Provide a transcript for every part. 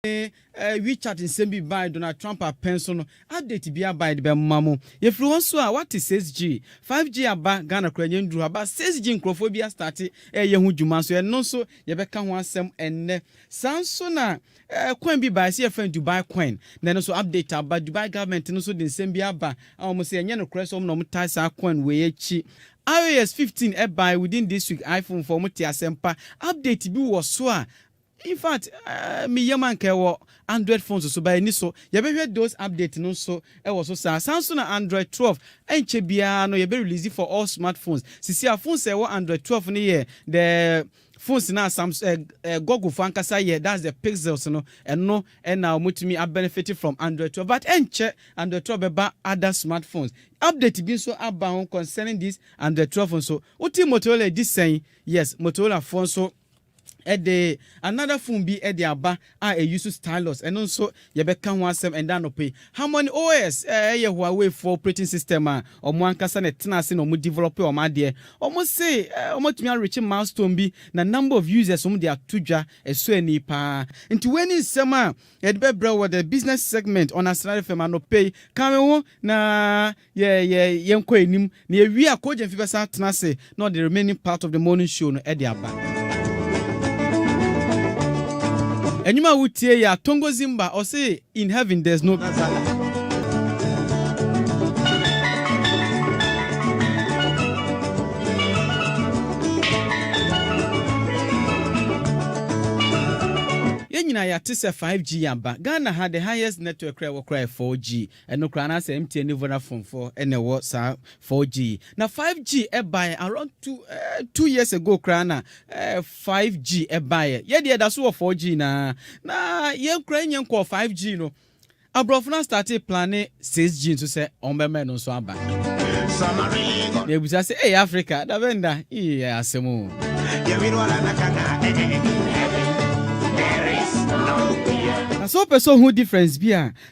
eh, WeChat nsɛm bi bae Donald Trump apɛn so no update bi aba yɛde bɛma mo. Yɛfiri hɔ nso a woate 6G, 5G aba Ghana koraa yɛn nnuru hɔ but 6G nkurɔfoɔ bi astarte ɛreyɛ ho dwuma nso ɛno nso yɛbɛka ho asɛm ɛnnɛ. Saa nso na eh, coin bi bae sɛ yɛfrɛ no Dubai coin na ɛno nso update aba Dubai government no nso de nsɛm bi aba a wɔn sɛ ɛnyɛ nokorɛ sɛ wɔn na wɔn tae saa coin wei akyi. IOS 15 ɛbae within this week iPhone foɔ wɔn te asɛmpa update bi wɔ so a Infact me yam anka ɛwɔ Android phones so but ɛni so. Yɛbɛhwɛ those update no nso wɔ so saa. Saa nso na Android twelve ɛnkyɛ biara no yɛbɛ release for all smart phones. Sisi a phones a ɛwɔ Android twelve no yɛ the phones no a Sams eh eh Google fo ankasa yɛ that's the Pixels no ɛno na wɔn atumi a benefit from Android twelve but ɛnkyɛ Android twelve bɛba other smart phones. Update bi nso aba ho concerning this Android twelve nso. Wote Motorola ɛdi sɛn? Yes Motorola foɔ nso Ɛde another phone bi de aba a e use stylus, ɛno nso yɛbɛka ho asɛm ɛnnɛ anɔpa yi. Harmony OS yɛ Huawei foɔ operating system a wɔn ankasa na ɛtena ase na wɔn develop wɔn adeɛ. Wɔn se wɔn atumi a reach milestone bi na number of users wɔn de ato dwa ɛsɔ ani paa. Nti wei ne nsɛm a yɛde bɛbrɛ wo wɔ the business segment on Asena FM anɔpa yi. Ka me ho na Yɛ yɛ yɛnkɔ anim na yɛwie a Coach Gyamfi bɛsan atena ase na ɔde remaining part of the morning show no de aba. Ɛnwom a wotie yi a Tongo Zimba ɔse in heaven there's no be. Yɛn nyinaa yɛate sɛ 5G aba. Ghana ha the highest network koraa a ɛwɔ koraa yɛ 4G. Ɛno koraa na sɛ MTN ne Vodafone foɔ na ɛwɔ saa 4G yi. Na 5G baeɛ around two, eh, two years ago koraa na eh, 5G baeɛ. Yɛdeɛ ɛda so wɔ 4G na na yɛn koraa yɛnyɛ nkɔɔ 5G no. Aborɔfo no astate plane 6G nso sɛ ɔmbɛma ɛno nso aba. Na ebusa sɛ, ee Africa, da bɛ nda, ee yɛ asɛm o. Na sɛ wopɛ sɛ ohu difference bi a,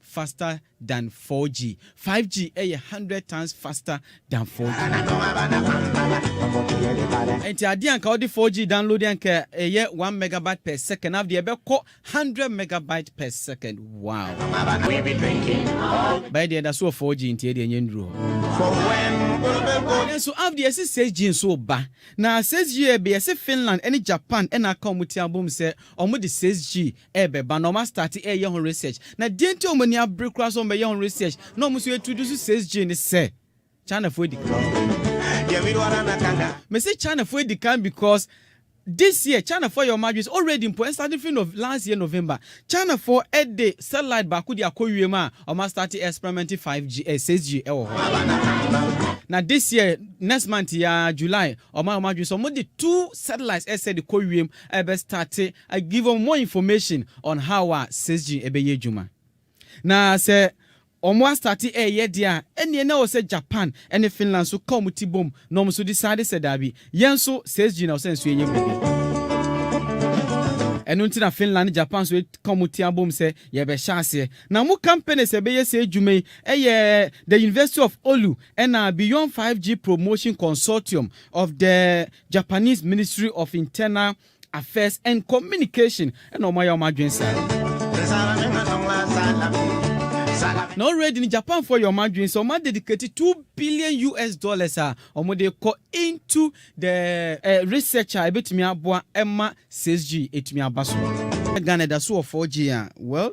faster than 4G, 5G yɛ hundred times faster than 4G. Ɛnti adeɛ a nka wode 4G download a nka ɛyɛ one megabyte per second afei deɛ ɛbɛkɔ hundred megabyte per second wow. Bɛyɛ deɛ ɛda so wɔ 4G nti ɛdeɛ nyɛ nnuru hɔ. Nanso afei deɛ ɛsi 6G nso ba na 6G yɛ bɛ yɛsi Finland ɛne Japan ɛna aka wɔn ti abom sɛ wɔn de 6G ɛrebɛba na wɔn astarte reyɛ ho research na deɛ nti a wɔn ani abere koraa sɛ wɔn bɛyɛ ho research na wɔn nso introduce six G ne sɛ Chinafoɔ adi kan mese Chinafoɔ adi kan because this year Chinafoɔ yɛ wɔn adwene sɛ already mpo starting from Nov last year November Chinafoɔ de satellite baako de akɔ wiem a wɔn astarte experimenting five G eh, six G ɛwɔ hɔ na this year next month ya July wɔn a wɔn adwene sɛ wɔn de two satellites ɛsɛ de kɔ wiem ɛbɛ starte I give wɔn more information on how a sesg ɛbɛyɛ adwuma. Na sɛ wɔn astate ɛɛyɛ deɛ a, ɛneɛ na ɛwɔ sɛ Japan ɛne Finland nso ka wɔn ti bom na wɔn nso decide sɛ daabi, yɛn nso sesg na ɛwɔ sɛ nso yɛyɛ biribi. Ɛno nti na Finland ne Japan nso aka wɔn ti abom sɛ yɛbɛhyɛ aseɛ. Na wɔn companies a ɛbɛyɛ saa adwuma yi ɛyɛ the University of Oulu ɛna Beyond 5G Promotion Consortium of the Japanese Ministry of Internal Affairs and Communication na wɔn ayɛ wɔn adwene saa. Na already no Japan foɔ yɛ wɔn adwene sɛ wɔn a dedicate two billion US dollars a wɔn de kɔ into the eh, research a ebetumi aboa ɛma 6G etumi aba so. Ghana da so wɔ 4G a well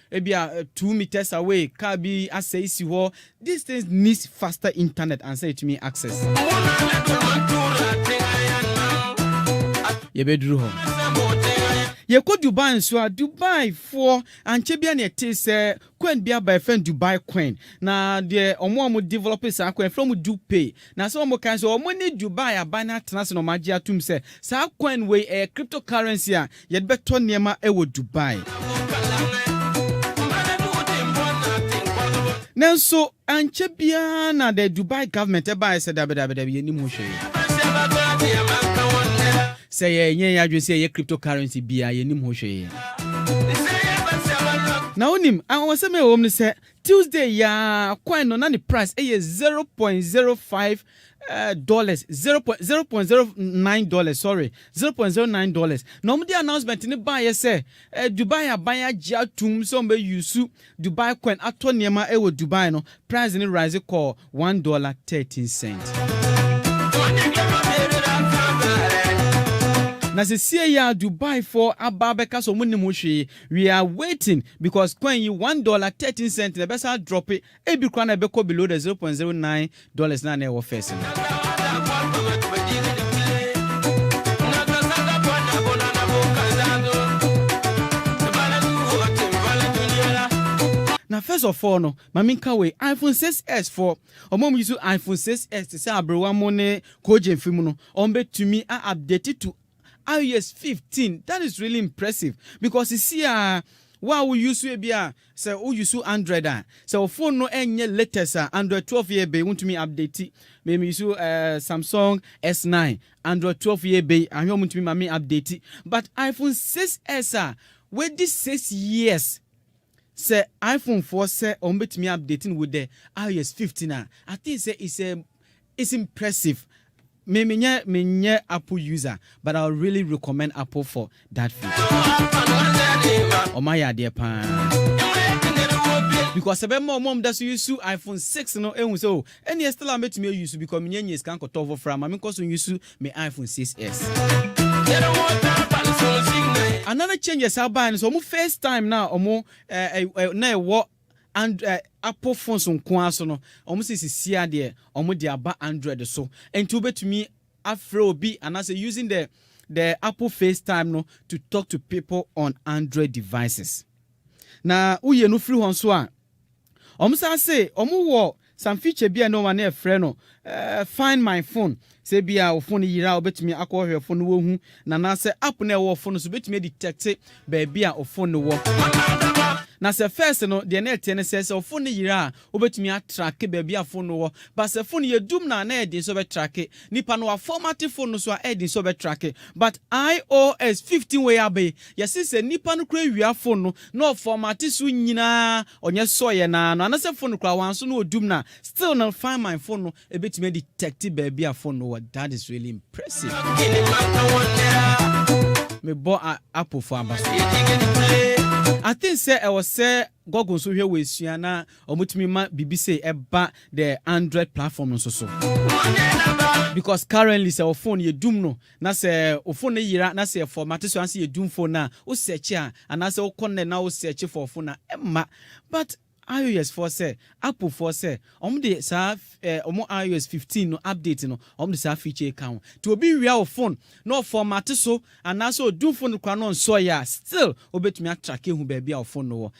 Ebia two meters away car bi asɛe si hɔ, these things needs faster internet ansa yɛtumi access. Yɛbɛduru hɔ. Yɛkɔ Dubai nso a, Dubai foɔ ankyɛ bia na ɛte sɛ coin bi aba ɛfɛn Dubai coin na deɛ ɔmo a ɔmo develop saa coin ɛfrɛ ɔmo Dupe na sɛ ɔmo kan sɛ ɔmo ne Dubai aban atena ase na ɔmo agye atum sɛ saa coin wei ɛyɛ cryptocurrency a Yɛde bɛtɔ nneɛma wɔ Dubai. Nanso ankyɛ biara na the Dubai government baeɛ sɛ dabi dabi dabi yɛnim ho hwee. Sɛ yɛnyɛ yɛn adwene sɛ yɛyɛ cryptocurrency biara yɛnim ho hwee. Na wonim anwanwasɛm a ɛwɔ mu ne sɛ Tuesday yi ara coin no na ne price yɛ zero point zero five eh, dollars zero point zero point zero nine dollars sorry zero point zero nine dollars na wɔn de announcement ne baayɛ sɛ eh, Dubai aban agye atum sɛ wɔn bɛ yusu Dubai coin atɔ nneɛma ɛwɔ eh, Dubai no price ne rise kɔɔ one dollar thirteen cent. Na sesie yi a Dubai fo aba abɛka sɛ wɔn nim hwee we are waiting because coin yi one dollar thirteen cent na ɛbɛsa drop ebi koraa na ɛbɛkɔ below the zero point zero nine dollars no a na ɛwɔ first no. Na first of all no, ma menka wei, iPhone 6s fɔ, wɔn a wɔyi so iPhone 6s te sɛ aberewa mo ne kogyen fi mu no, wɔbɛtumi a update to Aw yes fifteen that is really impressive because sisi a wo a wo use ebi a sɛ wo use android a sɛ wo phone no ɛnyɛ latest a android twelve yɛ bɛyi wontumi update me me use ɛɛ eh, samsung s nine android twelve yɛ bɛyi ahwɛ wɔn ntumi ma me update but iphone six s a wadi six years sɛ iphone foɔ sɛ wɔn bɛtumi update no wo dɛ ios fifteen a i think sɛ it's a It's impressive me menyɛ menyɛ apple user but I will really recommend apple for that feature ɔmo ayɛ adeɛ paa because ɛbɛma ɔmo ɔmo da so yusu iPhone 6 no ehu sɛ o ɛnneɛ still a mɛtumi ayusu because menyɛ nyɛ sika nkɔtɔ foforɔ ama menkɔ so nyusu me iPhone 6s. Another changes a baeɛ no sɛ ɔmo FaceTime no a ɔmo ɛɛ na ɛwɔ And eh, Apple phones nko ara so no, wɔn sɛ sisi a deɛ wɔn de aba Android so. Nti wobɛtumi afrɛ obi anaasɛ using the the Apple FaceTime no to talk to people on Android devices. Na woyɛ no firi hɔ nso a, wɔn san se wɔn wɔ Some feature bi a na wɔn ani ɛfrɛ no Find My Phone. Sɛ ebia wo phone yera a, wobɛtumi akɔhwɛ wo phone no woahu no anaasɛ app no a ɛwɔ wo phone no so bɛtumi adetɛkte baabi a wo phone no wɔ. Na sɛ first no, deɛ na ɛteɛ ne sɛ, sɛ wo phone no yera a, wobɛtumi atracke baabi a phone no wɔ. But sɛ phone no yɛ dum no a, na ɛyɛ den sɛ wobɛtracke. Nnipa no wɔafɔmate phone no so a, ɛyɛ den sɛ wɔbɛtracke. But iOS 15 wei aba yi, Yɛse sɛ nipa no koraa wia fon no na ɔfɔm ate so nyinaa ɔnyɛ sɔeɛ no ara no anasɛ fon no koraa wanso na ɔdum no a still no find my fon no ɛbɛtumi adetect baabi a fon no wɔ that is really impressive mebɔ a apple fo aba so I think sɛ ɛwɔ sɛ Google nso hwɛ wɔ esua na ɔmotumi ma biribi sɛ ɛba the Android platform no nso so because currently sɛ wɔ phone yɛ dum no Na sɛ wo fon no yera na sɛ fɔmate so ansa yɛ dum fon no a wo sɛɛkye a anaasɛ wo kɔ nɛt na wo sɛɛkye fɔɔ fon a ɛmma but ios foɔ sɛ apple foɔ sɛ ɔmo de saa ɛɛ ɔmo ios fifteen no update no ɔmo de saa feature yi ka ho nti obi wia wo fon na ɔfɔmate so anaasɛ ɔdum fon no koraa na ɔnsɔɔyɛ a still wobɛtumi atrake ahu baabi a wo fon no wɔ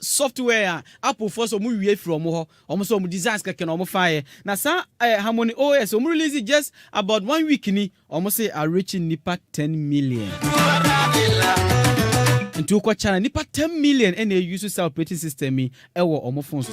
software a Apple foɔ sɛ ɔmo wie firi ɔmo hɔ, ɔmo sɛ ɔmo designs kɛkɛ na ɔmo faeɛ, na saa ɛɛ Harmony OS ɔmo release just about one week ni, ɔmo se a reach nnipa ten million. Nti wokɔ China nnipa ten million ɛna ɛuse saa operating system yi ɛwɔ ɔmo phones so.